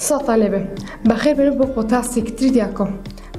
سڵاوتان لێبێ بەخێر بێنە بۆ پۆتاسێکی تری دیاکۆ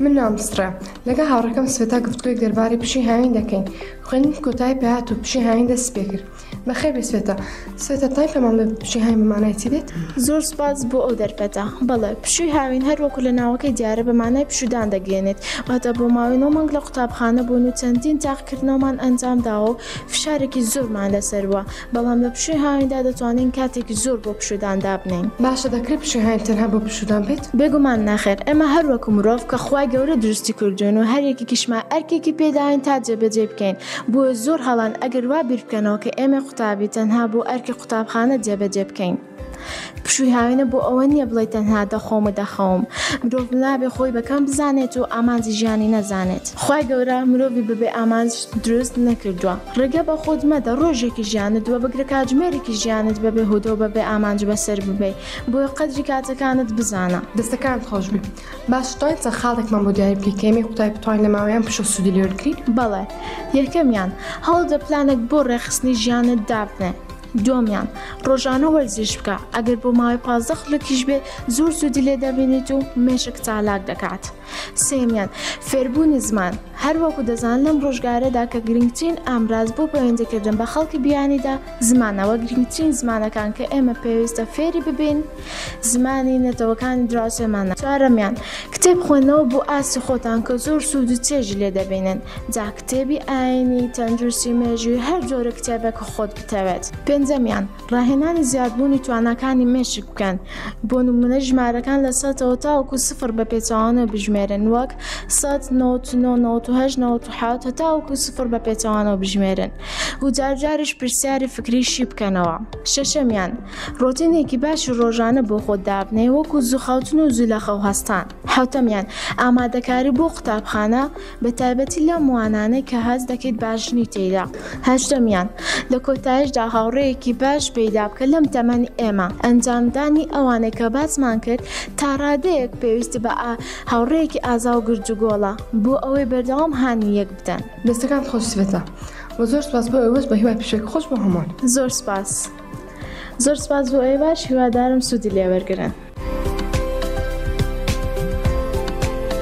من نام سڕە لەگە هاوڕەکەم سوێتا گفتگوی دەربارەی پشی هاوین دەکەین خوێنی کۆتای پێات و پشی هاوین دەست پێ کرد بەخێر بێ سوێتا سوێتا تای پەمان لە پشی هاوین بمانای چی دێت زۆر سپاس بۆ ئەو دەرفەتە بەڵێ پشوی هاوین هەر وەکو لە ناوەکەی دیارە بە مانای پشودان دەگەێنێت واتە بۆ ماوەی نۆ مانگ لە قوتابخانە بوون و چەندین تاقکردنەوەمان ئەنجام داوە و فشارێکی زۆرمان لەسەروە بەڵام لە پشووی هاویندا دەتوانین کاتێکی زۆر بۆ پشوودان دابنێین. باشە دەکرێت پشووی هاوین تەنها بۆ پشوودان بێت؟ بێگومان نەخێر، ئێمە هەر وەکو مرۆڤ کە خوای گەورە دروستی کردووین و هەر یەکێکیشمان ئەرکێکی پێداوین تا جێبەجێی بکەین، بۆیە زۆر هەڵەن ئەگەر وا بیر بکەنەوە کە ئێمەی قوتابی تەنها بۆ ئەرکی قوتابخانە جێبەجێ بکەین. پشووی هاوێنە بۆ ئەوە نییە بڵێ تەنها دەخۆم و دەخەوم مرۆڤ نابێ خۆی بەکەم بزانێت و ئامانجی ژیانی نەزانێت خوای گەورە مرۆڤی بەبێ ئامانج دروست نەکردووە ڕێگە بە خۆت مەدە ڕۆژێکی ژیانت وە بگرە کاتژمێرێکی ژیانت بەبێ هۆدە و بەبێ ئامانج بەسەر ببەی بۆیە قەدری کاتەکانت بزانە. دەستەکانت خۆش بێ باش توانین چەند خاڵێکمان بۆ دیاری بکەی کە ئێمەی قوتابی بتوانین لە ماوەیان پشە سوودی لێوەرگرین؟ بەڵێ یەکەمیان هەوڵدە پلانێک بۆ ڕێکخستنی ژیانت دابنێ دووەمیان، ڕۆژانە وەرزش بکە، ئەگەر بۆ ماوەی پازدە خولەکیش بێت زۆر سوودی لێ دەبینیت و مێشک چالاک دەکات. سێمیان، فێربوونی زمان، هەروەکو دەزان لەم ڕۆژگارەدا کە گرنگترین ئامراز بۆ پەیوەندیکردن بە خەڵکی بیانیدا زمانەوە گرنگترین زمانەکان کە ئێمە پێویستە فێری ببین، زمانی نەتەوەکانی دراوسێمانە. چوارەمیان، کتێب خوێندنەوە بۆ ئاستی خۆتان کە زۆر سوود و چێژی لێ دەبینن، جا کتێبی ئایینی، تەندروستی، مێژووی، هەر جۆرە کتێبێک کە خۆت بتەوێت. پێنجەمیان، ڕاهێنانی زیادبوونی تواناکانی مێشک بکەن، بۆ نموونە ژمارەکان لە سەدەوە تاوەکو سفر بە پێچەوانەوە بژمێرن وەک، سەد، نەوەت و نۆ، نەوەت و هەشت، نەوەت و حەوت، هەتاوەکو سفر بە پێچەوانەوە بژمێرن و جار جاریش پرسیاری فکریی بکەنەوە. شەشەمیان. ڕۆتینێکی باشی ڕۆژانە بۆ خۆت دابنێ وەکو زووخاوتن و زوو لە خەو هەستان حوتەمیان ئامادەکاری بۆ قوتابخانە بە تایبەتی لە موانانەی کە هەست دەکەیت باشنی تێیدا هەشتەمیان لە کۆتایشدا هاوڕێیەکی باش پەیدا بکە لەم تەمەنی ئێمە ئەنجامدانی ئەوانەی کە باسمان کرد تا ڕادەیەک پێویستی بە ئا هاوڕێیەکی ئازا و گرجوگۆڵە بۆ ئەوەی بەردەوام هانی یەک بدەن دەستەکانت خۆش سبەتە. وە زۆر سپاس بۆ ئێوەش بە هیوای پێشەکی خۆش بۆ هەمووان. زۆر سپاس. زۆر سپاس بۆ ئەوێ باش هیوادارم سوودی لێوەرگن.